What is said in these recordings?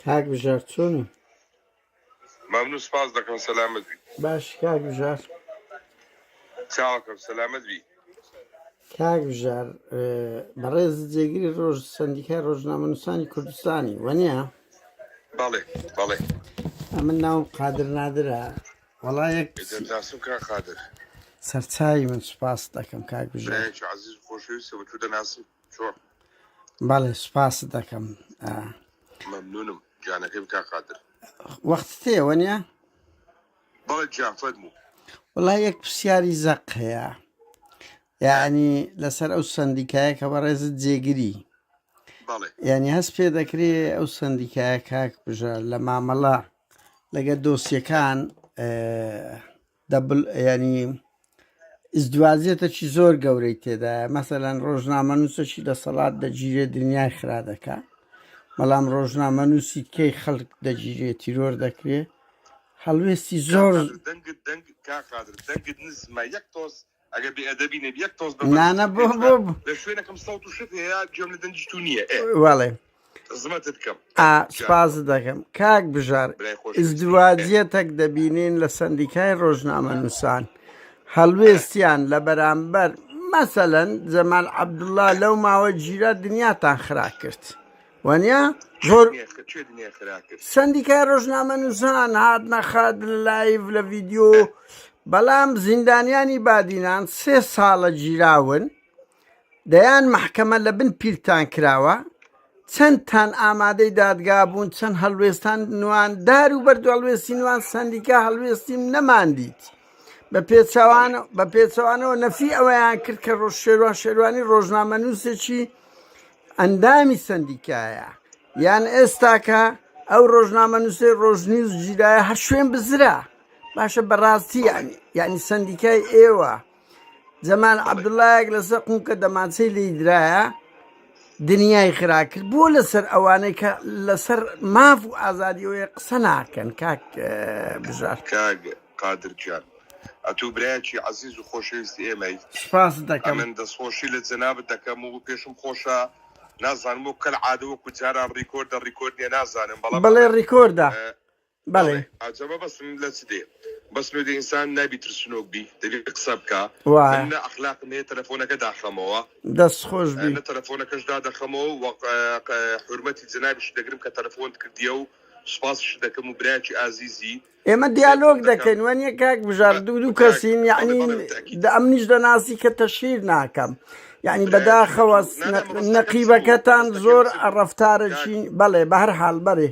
کاک بژار چۆنی ممنون سپاس دەکەم سەلامت بی باش کاک بژار چاوەکەم سەلامت بی کاک بژار اه، بەڕێز جێگری ڕۆژ سندیکای ڕۆژنامەنووسانی کوردستانی وەنیە بەڵێ بەڵێ ئەمن ناوم قادر نادرە وەڵا یەک ئێجا دەناسم کا قادر سەرچاوی من سوپاس دەکەم کاک بژار برایەکی عزیز و خۆشەویستە بە تو دەناسم چۆن بەڵێ سوپاست دەکەم ئا، مەمنونم گیانەکەی بکە قادر وەختت هەیە وەنیە بەڵێ گیان فەرموو وڵا یەک پرسیاری زەق هەیە یعنی لەسەر ئەو سندیکایە کە بەڕێزت جێگری بەڵێ یعنی هەست پێ دەکرێ ئەو سندیکایە کاک بژە لە مامەڵە لەگە دۆسیەکان اه، دەبل یانی ئزدواجێتەکی زۆر گەورەی تێدایە مەسەەن ڕۆژنامەنووسەکی دەسەڵات دەگیرێ دنیای خرا دەکە بەڵام ڕۆژنامەنووسی کەی خەڵک دەگیرێ تیرۆر دەکرێ هەڵوێستی زۆر دەنگت دەنگ کاقادر دەنگت نزمە یەک تۆز ئەگە بێ ئەدەبی نەبی یەک تۆز نانە بۆ بۆ لە شوێنەکەم سەوت و شت هەیە گوێم لە دەنجی تو نییە وڵێ زمەتت کەم سپاز دەکەم کاک بژار ئزدواجیەتەک دەبینین لە سندیکای ڕۆژنامە نووسان هەڵوێستیان لە بەرامبەر مەسەەن جەمال عەبدوڵا لەو ماوە گیرە دنیاتان خرا کرد. وەنیا زۆر سندیکای ڕۆژنامە نووسان هات نەخات لە لایڤ لە ڤیددیو بەڵام زیندانیانی بادینان سێ ساڵە گیراون دەیان محکەمە لە بن پیلتان کراوە چەندتان ئامادەی دادگا بوون چەند هەڵوێستان نوان دار و بەرد هەڵوێستی نوان سندیکا هەڵوێستیم نەماندیت بە پێچوان بە پێچوانەوە نەفی ئەوەیان کرد کە ڕۆژ شێوان شێوانی ڕۆژنامە نووسێکی ئەندامی سەندیکایە یان ئێستاکە ئەو ڕۆژنامە نووسێ ڕۆژنیوز جیرایە هەر شوێن بزرا باشە بەڕاستی یعنی یعنی سندیکای ئێوە جەمال عەبدوڵایەک لەسەر قونکە دەمانچەی لی درایە دنیای خرا کرد بۆ لەسەر ئەوانەی کە لەسەر ماف و ئازادیەوەی قسە ناکەن کاک بژار کاک قادر جان ئەتوو برایەکی عەزیز و خۆشەویستی ئێمەی. سوپاست دەکەم. ئەمن دەستخۆشی لە جەنابت دەکەم و پێشم خۆشە نازانم وەکو کەل عادە وەکو جاران ڕیکۆردە ڕیکۆرد نیە نازانم بەڵام ئەمن. بەڵێ ڕیکۆردە بەڵێ. عەجەبە بەس من لە چ دێ بەس نۆ دێ ئینسان نابی ترسنۆک بی دەبی قسە بکا من نە ئەخلاقم هەیە تەلەفۆنەکە داخەمەوە. دەست خۆش بی. نە تەلەفۆنەکەش دادەخەمەوە و حورمەتی جەنابیشت دەگرم کە تەلەفۆنت کردیە و سوپاسیشت دەکەم و برایەکی ئازیزی. ئێمە دیالۆگ دەکەین وە نیە کاک بژار دوو دوو کەسین یعنی ئەمنیش دەناسی کە تەشیر ناکەم یعنی بەداخەوە نەقیبەکەتان زۆر ڕفتارەچین بەڵێ بە هەر حال بەرێ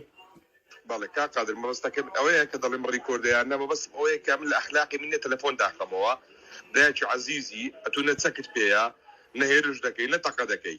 بەڵێ کا قادر مەبەستەکەم ئەوەیە کە دەڵێم ڕیکۆردەیان نەمە بەس ئەوەیە کە من لە ئەخلاقی منێ تەلەفۆن داخەمەوە برایکی عزیزی ئەتو نە چەکت پێەیە نە هێرش دەکەی نە تەقە دەکەی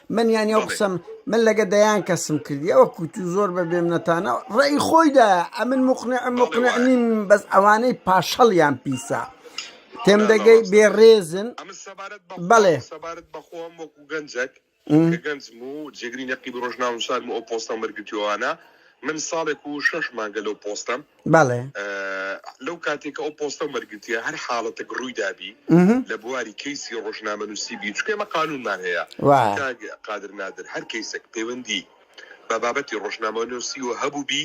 من یانی ئەو قسەم من لەگە دەیان کەسم کردی ئەوە کووت و زۆر بە بێمنەتانە ڕێی خۆیدا ئەمن مقنع مقنع نیم بەس ئەوانەی پاشەڵیان پیسە تێم دەگەی بێڕێزن بەڵێ سەبارەت بەخۆم وەکو گەنجەک گەنجم و جێگری نەقی ڕۆژناونسان و ئەو پۆستە مەرگتیوانە من ساڵێک و شەش مانگە لەو پۆستم بەڵێ. لەو کاتێک کە ئەو پۆستەم وەرگرتیە هەر حاڵەتێک ڕووی دابی لە بواری کەیسی ڕۆژنامەنووسی بی چکێ مە قانونمان هەیە قادر نادر هەر کەیسێک پەیوەندی بە بابەتی ڕۆژنامەنووسی و هەبوو بی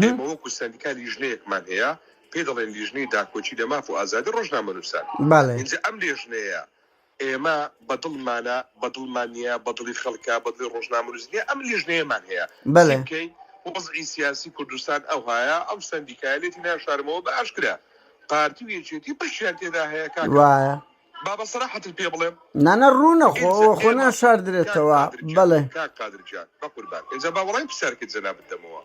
ئێمە وەکو سندیکا لیژنەیەکمان هەیە پێ دەڵێن لیژنەی داکۆچی لە ماف و ئازادی ڕۆژنامەنووسان بەڵێ ئەم لێژنەیە ئێمە بە دڵمانە، بە دڵمان نییە، بە دڵی خەڵکە، بە دڵی ڕۆژنامەنووس نییە، ئەم لیژنەیەمان هەیە. چی بکەین؟ وەزعی سیاسی کوردستان ئەوهایە، ئەم سەندیکایە لێتی ناشارمەوە، بە ئاشکرا پارتی و یەکێتی بەشیان تێدا هەیە کاکە، با بە سەراحەتت پێ بڵێم. نانا ڕوونە خۆ ئەوە خۆ ناشاردرێتەوە. بەڵێ. کاک قادر گیان بە قوربان، ئینجا با وەڵامی پرسیارەکەی جەنابت دەمەوە.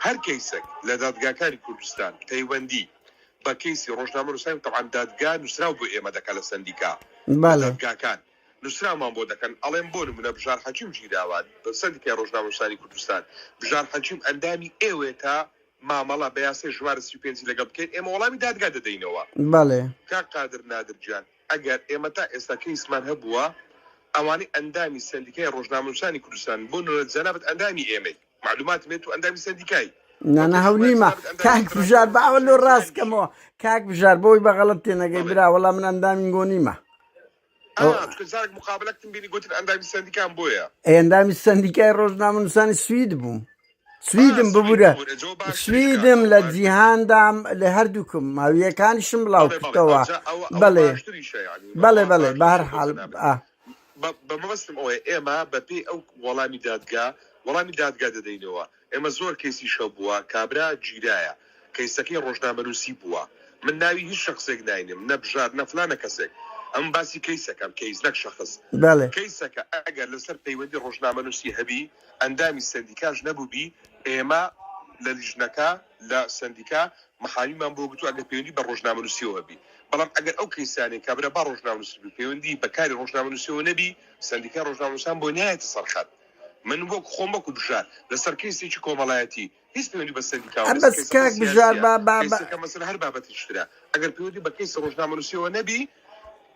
هەر کەیسەک لە دادگاکانی کوردستان پەیوەندیی بە کەیسی ڕۆژنامەنووسان تەبعەن دادگا نووسراو بۆ ئێمە دەکەن لە سەندیکا لە دادگاکان نووسراومان بۆ دەکەن ئەڵێم بۆ نموونە بژار حەکیم گیراوە لە سەندیکای ڕۆژنامەنووسانی کوردستان بژار حەکیم ئەندامی ئێوەیە تا مامەڵە بە یاسای ژمارە سی و پێنج ی لەگەڵ بکەین ئێمە وەڵامی دادگا دەدەینەوە کاک قادر نادر گیان ئەگەر ئێمە تا ئێستا کەیسمان هەبووە ئەوانەی ئەندامی سەندیکای ڕۆژنامەنووسانی کوردستان بۆ نموونە جەنابت ئەندامی ئێمەی معلومات مێ تو ئەندامی سەندیکای نانەهەو نیمە کاک بژار باوە لۆ ڕاستکەمەوە کاک بژار بۆی بەغەڵت تێنەگەی برا وەڵا من ئەندامین گۆ نیمە مقابلەکتم بینی گوتن ئەندامی سندیکان بۆیە ئەندامی سندیکای ڕۆژنامەنووسانی سوید بووم سویدم ببورە سویدم لە جیهاندام لە هەردووکم ماویەکانیشم بڵاو کردەوە بەڵێ بەڵێ بەڵێ بەهر حال بە مەبەستم ئەوەیە ئێمە بە پێی ئەو وەڵامی دادگا وەڵامی دادگا دەدەینەوە، ئێمە زۆر کەیسی شەو بووە کابرا گیرایە کەیسەکەی ڕۆژنامەنووسی بووە، من ناوی هیچ شەخسێک ناینێم نە بژار نە فلانە کەسێک ئەمن باسی کەیسەکەم کەیس نەک شەخس بەڵێ کەیسەکە ئەگەر لەسەر پەیوەندی ڕۆژنامەنووسی هەبی ئەندامی سەندیکاش نەبووبی ئێمە لە لیژنەکە لە سەندیکا محامیمان بۆ گرتوە ئەگەر پەیوەندی بە ڕۆژنامەنوسیەوە هەبی بەڵام ئەگەر ئەو کەیسانەی کابرا با ڕۆژنامەنوس بی پەیوەندی بە کاری ڕۆژنامەنوسیەوە نەبی سەندیکای ڕۆژنامەنوسان بۆ نایەتە سەر خەت من وەک خۆم وەکو بژار لەسەر کەیسێکی کۆمەڵایەتی هیچ پەیوەندی بە سەندیکاوە نیە بەس کەیسەکە کاک بژار سیاسیە با با با کەیسەکە مەسەلە هەر بابەتێکی ترە ئەگەر پەیوەندی بە کەیسی ڕۆژنامەنوسیەوە نەبی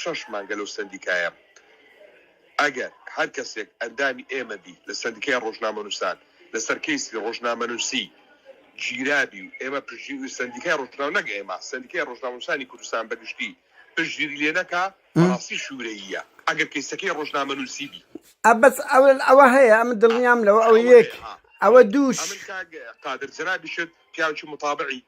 شەش مانگە لەو سەندیکایەم. ئەگەر هەر کەسێک ئەندامی ئێمە بی لە سەندیکای ڕۆژنامەنووسان لەسەر کەیسی ڕۆژنامەنووسی گیرابی و ئێمە پشتگیری سەندیکای ڕۆژنامە نەک ئێمە سەندیکای ڕۆژنامەنووسانی کوردستان بە گشتی پشتگیری لێ نەکا بەڕاستی شوورەییە ئەگەر کەیسەکەی ڕۆژنامەنووسی بی. ئە بەس ئە ئەوە هەیە ئە من دڵنیام لەوە ئەوە یەک ئەوە دووش. ئەمن کاک قادر جەنابیشت پیاوکی متابعی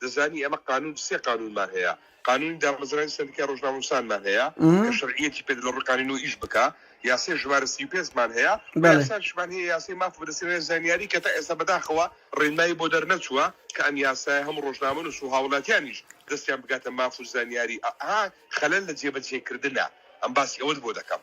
دەزانی ئێمە قانون سێ قانونمان هەیە قانونی دامەزرانی سەندیکای ڕۆژنامەنوسانمان هەیە کە شەرعیەتی پێ لە ڕووی قانونەوە ئیش بکا یاسای ژمارە سی و پێنج مان هەیە بەڵێ. یاساشمان هەیە یاسای ماف و دەستێنانی زانیاری کە تا ئێستا بەداخەوە ڕێنمایی بۆ دەرنەچووە کە ئەم یاسایە هەموو ڕۆژنامەنوس و هاوڵاتیانیش دەستیان بگاتە ماف و زانیاری ئا خەلەل لە جێبەجێکردنە ئەم باسی ئەوەت بۆ دەکەم.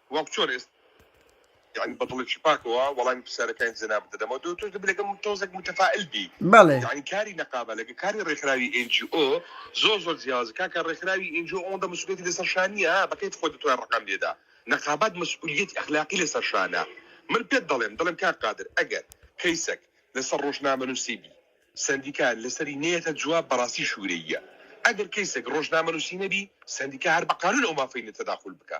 وەک چۆن ئێستا یانی بە دڵێکی پاکەوە وەڵامی پرسیارەکانی جەنابت دەدەمەوە دو تۆش دەبێ لەگەڵ من تۆزێک متەفائیل بی بەڵێ. یانی کاری نەقابە لەگەڵ کاری ڕێکخراوی ئێن جی ئۆ زۆر زۆر جیاوازە کاکە ڕێکخراوی ئێن جی ئۆ ئەوەندە مەسئولیەتی لەسەر شا نییە ها بە کەیف خۆت دەتوای ڕەقەم لێدا نەقابات مەسئولیەتی ئەخلاقی لەسەر شانە من پێت دەڵێم دەڵێم کاک قادر ئەگەر کەیسەک لەسەر ڕۆژنامەنووسی بی سەندیکا لەسەری نەیەتە جواب بەڕاستی شورەییە ئەگەر کەیسەک ڕۆژنامەنووسی نەبی سەندیکا هەر بە قانوون ئەو مافەی نییە تەداخول بکا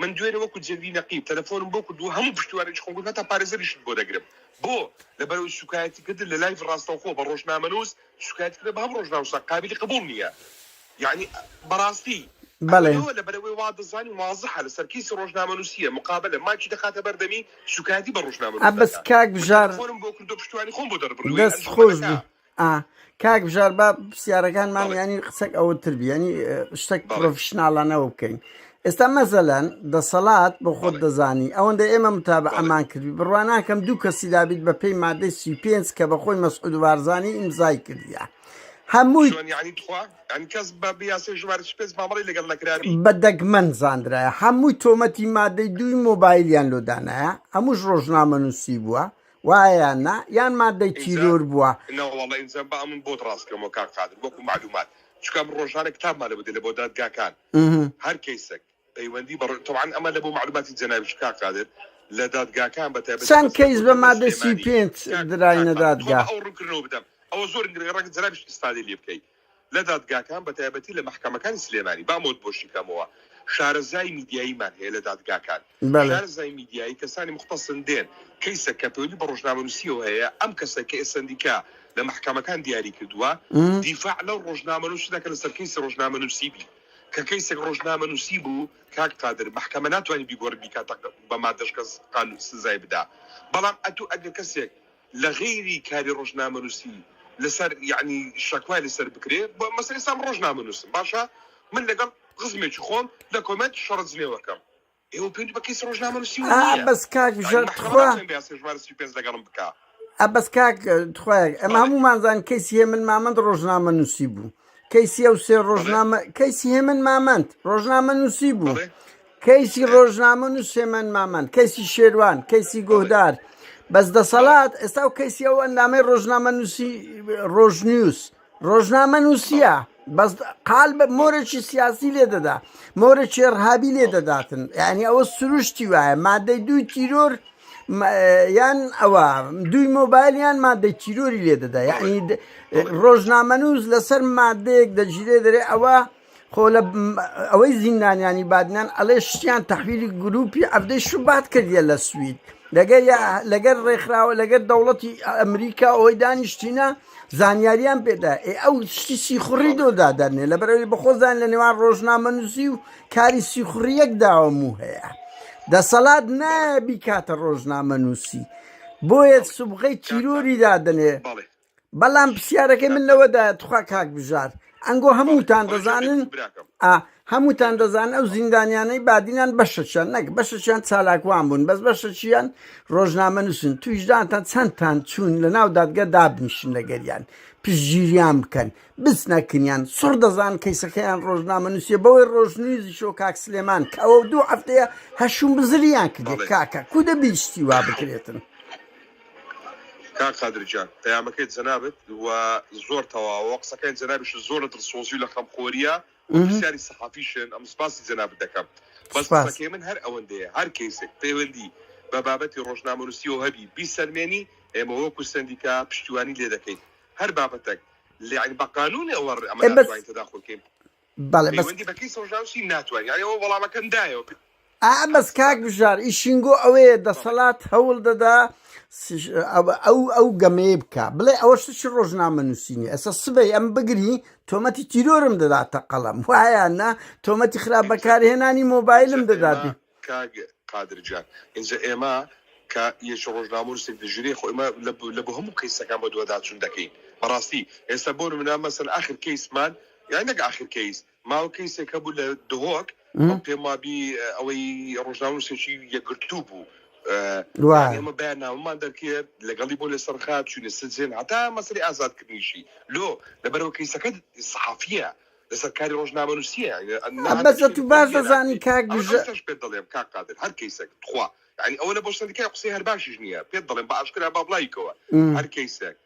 من دوێنێ وەکو جەندی نەقیب تەلەفۆنم بۆ کرد و هەموو پشتیوانیشی خۆم کرد، هەتا پارێزەریشت بۆ دەگرم. بۆ؟ لەبەرئەوەی سوکایەتیکردن لە لایڤ ڕاستەوخۆ بە ڕۆژنامەنووس، سوکایەتیکردن بە هەموو ڕۆژنامەنووسان قابیلی قبوڵ نییە. یەعنی بەڕاستی بەڵێ. ئەوەنەوە لەبەرئەوەی وا دەزانی وازحە لەسەر کەیسی ڕۆژنامەنووسییە مقابەلە مایکی دەخاتە بەردەمی سوکایەتی بە ڕۆژنامەنووس دەکا. من تەلەفۆنم بۆ کردو پشتیوانی خۆم بۆ دەربڕی وەی ئەنجومەنەکە. ئا کاک بژار با پرسیارەکانمان ینی قسەک ئەوە تر بیانی شتێک پرۆفشنناڵانەوە بکەین ئێستا مەزەلەن دەسەڵات بۆ خۆت دەزانی ئەوەندە ئێمە متاب ئەمان کردی بڕوان ناکەم دوو کەسی دابیت بە پێی مادەی سی پێنج کە بە خۆی مەسعود وارزانانی ئیمزای کردیە هەمووی کەس بە بیاسی ژمار پێنج مامەڵی لەگەڵ نەکراوی بە دەگمەن زانرایە هەمووی تۆمەتی مادەی دووی مۆبایلیان لۆدانایە هەمووش ڕۆژنامە نووسی بووە وایە یان نا یان مادەی ئینجا تیرۆر بووە. نەوەڵا ئینجا با ئەمن بۆت ڕاست کەمەوە کاک قادر وەکو مەعلومات چونکە ئەمن ڕۆژانە کتابمان لە بدەین لە بۆ دادگاکان هەر کەیسەک پەیوەندی بە ڕۆ تەبعەن ئەمە لە بۆ مەعلوماتی جەنابیشت کاک قادر لە دادگاکان بە تایبەتی چەند بەسەر کەیس بە بەندەی مادەی سی و سلێمانی پێنج کاک کاک دراینە قادر بەخوا دادگا؟ با ئەو ڕوونکردنەوە بدەم ئەوە زۆر گرنگە ڕەنگە جەنابیشت ئیسفادەی لێ بکەی لە دادگاکان بە تایبەتی لە مەحکەمەکانی سلێمانی با مۆد بۆشی کەمەوە شارەزای میدیاییمان هەیە لە دادگاکان شارەزای میدیایی کەسانی موختەسن دێن کەیسە کە پەیوەندی بە ڕۆژنامەنووسیەوە هەیە ئەم کەسە کە ئێسەندیکا لە مەحکەمەکان دیاری کردووە دیفاع لەو ڕۆژنامەنووسی دەکە لەسەر کەیسی ڕۆژنامەنووسی بی کە کەیسێک ڕۆژنامەنووسی بوو کاک قادر محکمە ناتوانانی بیگۆڕی بیکاتە بە مادەش کەس قانون سزای بدا بەڵام ئەتوو ئەگەر کەسێک لە غەیری کاری ڕۆژنامەنووسی لەسەر یەعنی شەکوای لەسەر بکرێ بە مەسەلەی ئێستا من ڕۆژنامەنووسم باشە من لەگەڵ خزمێکی خۆم لە کۆمێنت شەڕ جنێو ئەکەم ئێوە پێوەندی بە کەیسی ڕۆژنامەنووسی ئا نییە بەس کاک یەعنی ژان مەحکەمە تخوا ناتوانێ بەیاسای ژمارە سی و پێنج لەگەڵم بکا ئا بەس کاک تخوا ئێمە بەڵێ هەموومان زان کەیسی هێمن مامەند ڕۆژنامەنووسی بوو کەیسی ئەو سێ ڕۆژنامە کەیسی هێمن مامەند ڕۆژنامە نووسی بوو بەڵێ کەیسی ئێ، ڕۆژنامە نووس هێمن مامەند کەیسی شێروان کەیسی بەڵێ گۆهدار بەس بەڵێ دەسەڵات ئێستا و کەیسی ئەو ئەندامەی ڕۆژنامە نووسی ڕۆژنیوز ڕۆژنامە بەڵێ نووسە بەس قال بە مۆرەی سیاسی لێ دەدا مۆرەی ڕهابی لێ دەداتن یعنی ئەوە سروشتی وایە مادەی دووی تیرۆر یان ئەوە دووی مۆبایل یان مادەی تیرۆری لێ دەدا یعنی ڕۆژنامەنووس لەسەر مادەیەک دەگیرێ دەرێ ئەوە خۆ لە ئەوەی زیندانیانی بادنان ئەڵێ شتیان تەحویلی گروپی ئەفدەی شوبات کردە لە سوید لەگەر لەگەر ڕێکخراوە لەگەر دەوڵەتی ئەمریکا ئەوەی دانیشتینە زانیاریان پێدا ئێ ئەو شتی سیخوڕی دۆ دادەنێ لە بەرەوەی بەخۆزان لە نێوان ڕۆژنامە نووسی و کاری سیخوڕیەک داوەم و هەیە دەسەڵات نایە بیکاتە ڕۆژنامە نووسی بۆیە سوبغی تیرۆری دادەنێ بەڵام پرسیارەکەی من لەوەدا تخوا کاک بژار ئەنگۆ هەمووتان دەزانن هەمووتان دەزان ئەو زیندانیانەی بادینان بەشەچیان نەک بەشەچیان چالاکوان بوون بەس بەشەچیان ڕۆژنامە نووسن تویشدانتان چەندتان چوون لە ناو دادگە دابنیشن لەگەریان پشگیریان بکەن بچ نەکنیان سڕ دەزان کەیسەکەیان ڕۆژنامە نووسیە بەوەی ڕۆژنویزی شۆ کاک سلێمان کە ئەو دوو هەفتەیە هەشوم بزریان کردێت کاکە کو دەبیشتی وا بکرێتن کاک قادرجان پەیامەکەی جەنابت و زۆر تەواوە قسەکەی جەنابیش زۆر لە دڵسۆزی و لە خەمخۆریە پرسیاری سەحافی شێن ئەم سپاسی جەنابت دەکەم بەس قسەکەی من هەر ئەوەندەیە هەر کەیسێک پەیوەندی بە بابەتی ڕۆژنامەنوسیەوە هەبی بیسەلمێنی ئێمە وەکو سەندیکا پشتیوانی لێ دەکەین هەر بابەتەک لەیانی بە قانونی ئەوە ئەمە ناتوانین تەداخول کەین پەیوەندی بە کەیسی ڕۆژنامەنوسی ناتوانین یانی ئەوە وەڵامەکەم دایەوە ئا بەس کاک بژار ئی شینگۆ ئەوەیە دەسەلات هەول دەدا ئەو ئەو گەمەیە بکا بڵێ ئەوە شت چ ڕۆژنامە نووسینی ئەسە سبەی ئەم بگری تۆمەتی تیرۆرم دەداتە قەڵەم وایە نا تۆمەتی خراپ بەکارهێنانی مۆبایلم دەدات کاک قادر جان ئینجا ئێمە کە یەکی ڕۆژنامە و نووسێک دژیری خۆ ئێمە لە بو- لە بۆ هەموو کەیسەکان بۆ دوواداچوون دەکەین بەڕاستی ئێستا بۆ منە مەسەن ئاخر کەیسمان یان نەک ئاخر کەیس ماوە کەیسێک هەبوو لە دهۆک پێم وابی ئەوەی ڕۆژناونووسێکی یەکگرتوو بوو ئێمە بەیان ناومان دەکرد لەگەڵی بۆ لە سەرخات چوینە سجێن هەتا مەسری ئازادکردنیشی لۆ لەبەرەوە کەیسەکە سەحافە لەسەر کاری ڕۆژنامە نووسە ئەمەزەت باش دەزانی کاگژش پێ دەڵێم کا قادر هەر کەیسەک تخوا ینی ئەوە لە بۆ سەرکای قسەی هەر باشیش نییە پێ دەڵێم بە ئاشکرا با بڵایکەوە هەر کەیسەک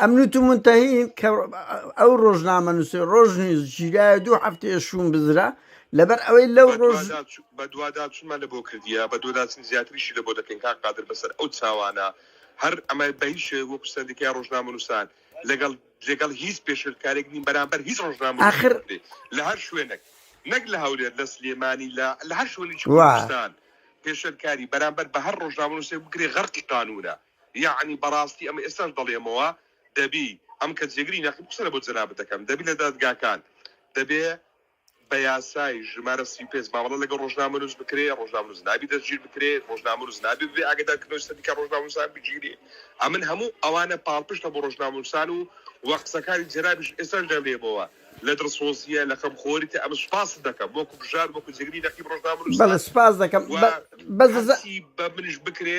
ئەمنوت و منتەهین کە ئەو ڕۆژنامە نووسێ ڕۆژ نیوز گیرایە دوو هەفتەیە شوون بزرا لەبەر ئەوەی لەو ڕۆژ بە دوادا چونمان لە بۆ کردیە بە دۆداچن زیاتریشی لە بۆ دەکەین کاک قادر بەسەر ئەو چاوانە هەر ئەمە بە هیچ شێوەیە وەکو سەندیکای ڕۆژنامە نووسان لەگەڵ لەگەڵ هیچ پێشێلکارێک نین بەرامبەر هیچ ڕۆژنامە آخر بێ لە هەر شوێنێک نەک لە هەولێر لە سلێمانی لە لە هەر شوێنێکی وا کوردستان پێشێلکاری بەرامبەر بە هەر ڕۆژنامە نووسێک بکرێ غەرقی قانوونە یەعنی بەڕاستی ئەمە ئێستاش دەڵێمەوە دەبی ئەم کە جێگری نەقیب قسە لەبۆ جەنابت دەکەم دەبی لە دادگاکان دەبێ بە یاسای ژمارە سی و پێنج مامەڵە لەگەڵ ڕۆژنامەنووس بکرێ ڕۆژنامەنووس نابی دەستگیر بکرێ ڕۆژنامەنووس نابێ ببێ ئاگادارکردنەوەی سەدیکا ڕۆژنامەنووسان بگیرێ ئەمن هەموو ئەوانە پاڵپشتە بۆ ڕۆژنامەنووسان و و قسەکانی جەنابیش ئێستاش دەملێمەوە لە دڵسۆزییە لە خەمخۆریتە ئەمن سوپاست دەکەم وەکو بژار وەکو جێگری نەقیب ڕۆژنامەنووسان بەڵێ سوپاس دەکەم و بە بەس دەزە هەرچی بە منیش بکرێ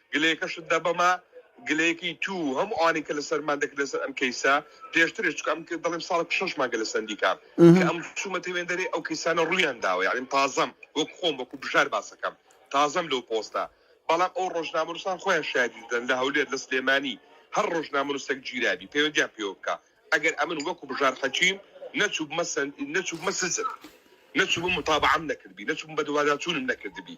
گلەیەکەشت دا بەمە گلەیەکەی توو و هەموو ئەوانەی کە لەسەرمان دەکرد لەسەر ئەم کەیسە پێشترش چونکە ئەم دەڵێم ساڵێک شەش مانگە لە سەندیکام کە ئەم چوومەتە وێندەرێ ئەو کەیسانە ڕوویان داوە یانیم تازەم وەک خۆم وەکو بژار باسەکەم تازەم لەو پۆستە بەڵام ئەو ڕۆژنامەنووسان خۆیان شایەتی دەدەن لە هەولێر لە سلێمانی هەر ڕۆژنامەنووسێک گیرابی پەیوەندیان پێوە بکا ئەگەر ئەمن وەکو بژار حەکیم نەچووبمە سەند نەچووبمە سجن نەچووبم متابعەم نەکردبی نەچووبم بەدواداچوونم نەکردبی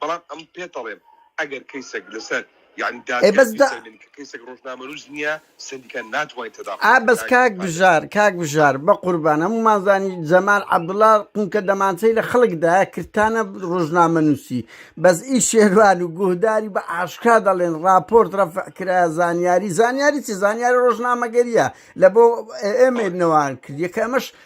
بەڵام ئەم پێتەڵێم ئەگەر کەیسەک لەسەر یانی دادگا بیسەلمێنی کە کەیسەک ڕۆژنامەنووس نییە سەندیکا ناتوانین تەداخڵ بکەین ئا بەس کاک بژار کاک بژار بەقوربان هەموومان زانی جەمال عەبدوڵا قونکە دەمانچەی لە خەڵکدا کردتانە ڕۆژنامەنووسی بەس ئی شێروان و گوهداری بە ئاشکرا دەڵێن ڕاپۆرت ڕەفع کرایە زانیاری زانیاری چی زانیاری ڕۆژنامەگەرییە لە بۆ ئێمەی نەوان کردیە کە ئەمەش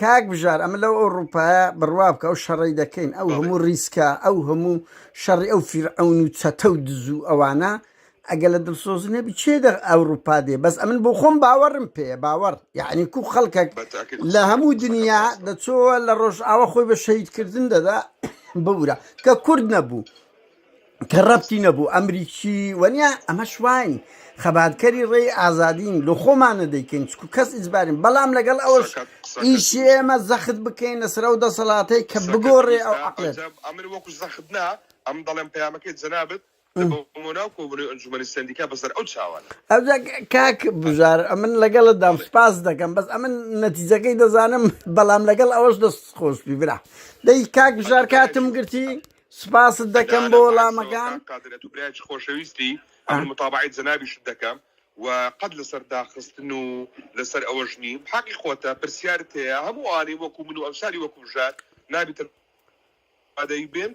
کاک بژار ئەمە لەو ئەوڕوپایە بڕوا بکە ئەو شەڕەی دەکەین ئەو بەڵێ هەموو ڕیسکە ئەو هەموو شەڕی ئەو فیرعەون و چەتە و دز و ئەوانە ئەگە لە دڵسۆز نەبی چێ دە ئەوڕوپا دێ بەس ئەمن بۆ خۆم باوەڕم پێ باوەڕ یعنی کو خەڵکەک بە تاکید لە قسەکە هەموو قسەکەت دنیا ڕاستە دەچۆوە لە ڕۆژئاوا خۆی بە شەهیدکردن دەدا ببورە کە کورد نەبوو کە ڕەبتی نەبوو ئەمریکی وەنیا ئەمەش واین خەباتکەری ڕێی ئازادین لە خۆمانە دەیکەین چکو کەس ئیجبارین بەڵام لەگەڵ ئەوەش ئیشی ئێمە زەخت بکەین لەسەر ئەو دەسەڵاتەی کە بگۆڕێ ئەو عقلێت ئەمر وەکو زەخت نا ئەم دەڵێن پەیامەکەی جەنابت مۆناو کۆبنی ئەنجومنی سندیکا بەسەر ئەو چاوان ئەو کاک بژار ئەمن لەگەڵت دام سپاس دەکەم بەس ئەمن نەتیجەکەی دەزانم بەڵام لەگەڵ ئەوەش دەست خۆشبی برا دەی کاک بژار کاتم گرتی سپاست دەکەم بۆ وەڵامەکان. کاک قادر ئەتوو برایەکی خۆشەویستی ئەمن متابەعەی جەنابیشت دەکەم و قەت لەسەر داخستن و لەسەر ئەوەش نیم حەقی خۆتە پرسیارت هەیە هەموو ئەوانەی وەکو من و ئەمسالی وەکو بژار نابیتن ئادەی بێن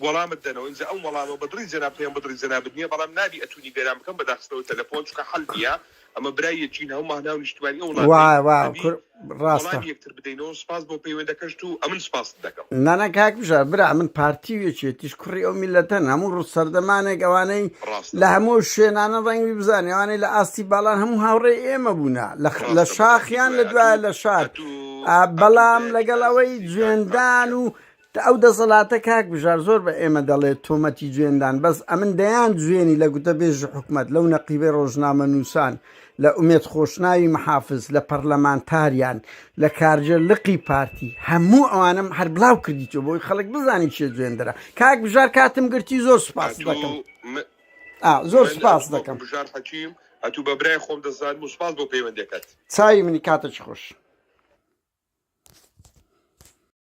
وەڵامت دەنەوە ئینجا ئەم وەڵامە بە دڵی جەنابت هەیە بە دڵی جەنابت نییە بەڵام نابی ئەتوونی بێران بکەم بە داخستنەوەی تەلەفۆن چونکە حەل نییە ئەمە برای یەکین هەموو ماهناو نیشتمانی ئەو وڵات وا وا ئەبی کور ڕاستە وەڵامی یەکتر بدەینەوە سپاس بۆ پەیوەندەکەشت و ئەمن سپاست دەکەم نانا کاک بژار برا من پارتی و یەکێتیش کوڕی ئەو میلەتەن هەموو ڕوو سەردەمانێک ئەوانەی ڕاستە لە هەموو شوێنانە ڕەنگی بزانێ ئەوانەی لە ئاستی باڵان هەموو هاوڕێی ئێمە بوونە لە خ- لە ڕاستە بەتاکی شاخیان لە دوایە دوایە ئەتوو لە شار ئەتوو ئا، ئەتوو بەڵام لەگەڵ ئەوەی ئەتوو جوێندان و دە ئەو دەسەلاتە کاک بژار زۆر بە ئێمە دەڵێت تۆمەتی جوێندان بەس ئەمن دەیان جوێنی لە گوتە بێژی حکومەت لەو نەقیبەی ڕۆژنامە نووسان لە ئومێد خۆشناوی محافز لە پەرلەمانتاریان لە کارجێ لقی پارتی هەموو ئەوانم هەر بلاو کردی تۆ بۆی خەڵک بزانانی چێ جوێندرا کاک بژار کاتم گرتی زۆر سپاس دەکەم زۆر سپاس دەکەم بژار حەکیم ئەتوو بە برای خۆم دەزان و سپاس بۆ پەیوەندەکەت چای منی کاتە چ خۆش